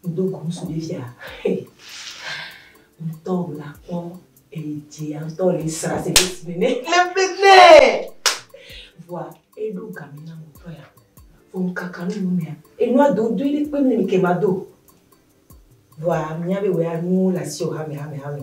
Medo go ŋsu ɖe fia hey ŋtɔ na kpɔ eyi dzi ya ŋtɔ le sra se ɖe si me ne le ne vɔa eɖo gami na mo tɔ ya vɔ ŋkaka nu nu mea enua do do ɖe kpe mi ke ma do vɔa mia be wɔ ya nu la si o hame hame hame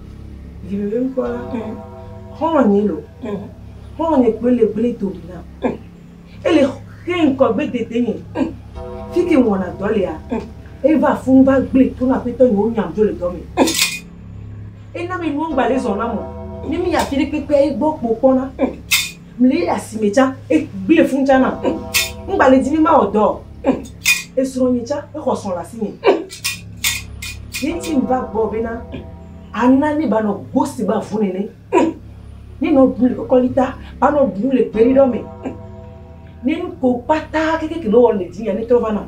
Vivivi ŋkɔ la ŋ. Xɔlɔ̃ nyɛ lo ŋ. Xɔlɔ̃ nyɛ kpoe le gble do ɖi nam ŋ. Ele xe ŋkɔ gbe dede nyɛ ŋ. Fike ŋ wɔna dɔ lea ŋ. E va fun va gble to na aƒetɔ nyɛ wo nyam dzo le dɔ mɛ ŋ. E na be nuwo ŋgba le zɔn nam o. Ne mi yi afi ɖe kpekpea egbɔ kpo kpɔ na ŋ. Mli asime tsã, egblẽ fũu tsã nam. Ŋgba le di be mawɔ dɔ o. Esrɔ̃nye tsã exɔ srɔ̃ le asinye. Ye ŋuti meva gbɔwò bena àna ne banɔ go si gba vu nene. Ne nɔ ɖum le kɔkɔlita, banɔ ɖum le gbeɖiɖɔ me. Ne nu ko kpata kekeke nɔ wɔm le dzinye netrɔ va nam.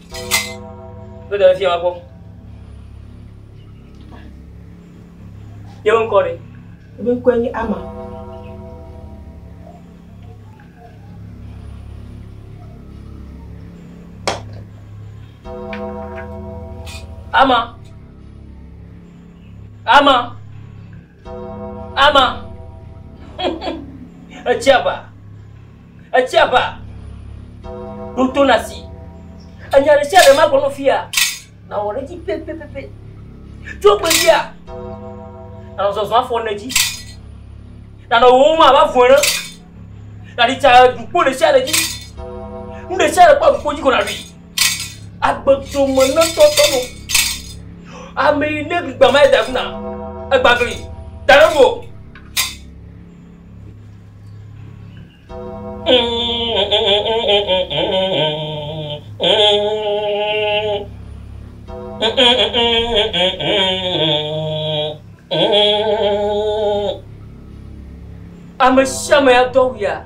Kpe ɖe fia kpɔ. Yewo ŋkɔ ɖe. Ebe ŋkɔe nye Ama. Ama. Ama. Ama. Etsia va. Etsia va. Ɖo to na si. Enya ɖe sia ɖe magblɔ no fia. Na wɔ ɖe dzi pepepepe. Tso gbe fia. Na zɔzɔ afɔ ne dzi. Na nɔ wo ma va vɔe ne. Na ɖi tsa dukpo ɖe sia ɖe dzi. Nu ɖe sia ɖe kpɔ dukpo dzi ko na ɖi. Agbe tso me ne tɔ tɔ no. Ame yi ne gba ma da kuna. Egba gli. Da ɖe mo. Ame sia ame ya do awu ya.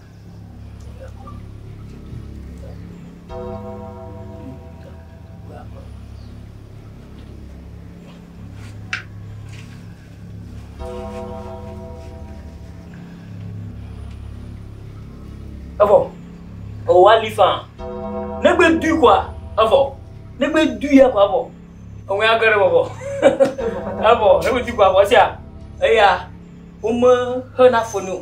Evɔ, ewɔ ali faa. Negbe dui kɔa, evɔ. Negbe dui ya kɔa, evɔ. Ewɔ ya gɛrɛ bɔbɔ. Evɔ, negbe dui kɔa, evɔ sia. Eya, wome hena foni o.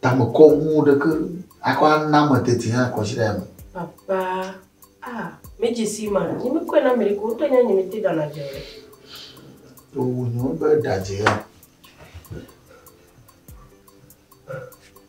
Tame kɔ ŋu ɖeke akɔ ana ame teti hã kɔ tsi ɖe ame. Papa, ah, mi dzi si ma, nyi mi kɔe na mi ɖe ko, wotɔ nya nyi mi te dana dze ɖe. To wu nyo be ɖa dze ya.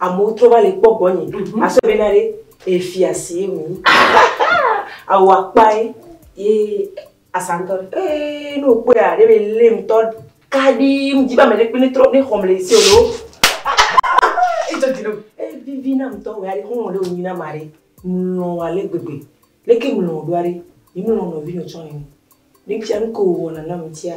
Amewo trɔ va le kpɔ gbɔnye. Mhm. Asɔ be na ɖe efia si ye wònyi. Awu akpae ye asantɔ ɖe. Ee ne wòkpɔe a ɖe be lé ŋutɔ kaɖii ŋdi be ame ɖe kpe ne trɔ ne xɔm le ese o. Etsɔ dzi ɖom. Evivi na ŋutɔ wòya ɖe xɔlɔ̃ ɖe wònyi na ma ɖe. Mlɔ wɔ ale gbegbe. Leke mlɔ wò ɖoa ɖe? Yi mlɔ nɔvi nɔ tsɔ nene. Ne fia nu ke wòwɔna nam ŋutia,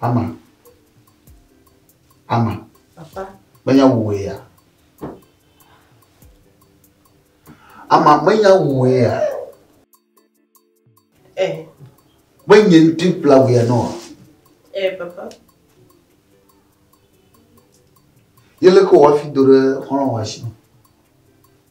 Ama. Ama. Papa. Menya wòwɔe ya. Ama, menya wòwɔe ya. Eh. Menye ŋuti kpla wòe nɔ. Eh, papa. Yele ko wafi do ɖe xɔlɔ̃ wa si.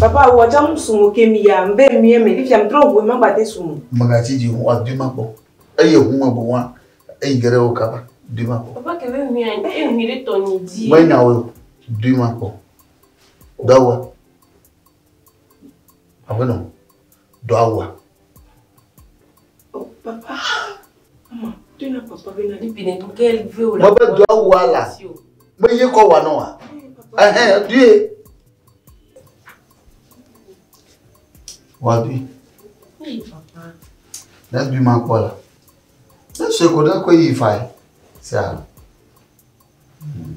Papa wɔ dza mu sumo ke mi ya mbe mie me fifia mtrɔ ŋu ema gbate sumo. Magatsi dzi ŋu wa dima kpɔ eye ŋu me bo wa eyi gere wo kaba dima kpɔ. Papa ke be ŋu ya e ŋu ɖe tɔ nyi dzi. Me nya wo dima kpɔ. Dawa. Aƒenɔ. dɔa wua? Mebe dɔa wua la, meye kɔ wa nɔa? Ɛhɛn, due. Wa dui. Ne dui ma kpɔ la, ne sue ko ɖe ko yi fa yi. Sia. Hmm.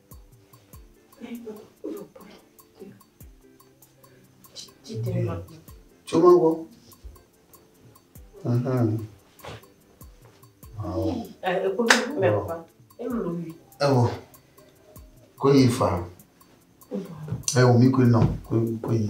Tso ma gbɔ. Ewo. Ko yi fa. Ewo mi ko nɔ ko yi.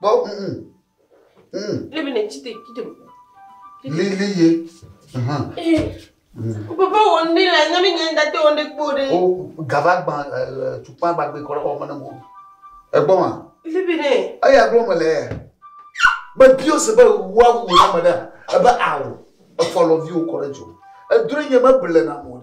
Kpɔ ŋu. Ŋu. Ne bene chite chite. Lili ye. Hum. O papa wo ne la na mi ne date wo ne kpo de. O gava gba tukpa gba gbe kora o mane mo. E gbo ma. Li bene. Ayi aglo me le. Be bio se be wa wu na me da. E be awo. E follow view kora jo. E dure nye me bele na mo.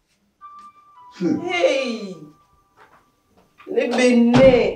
Hey! Le Benin.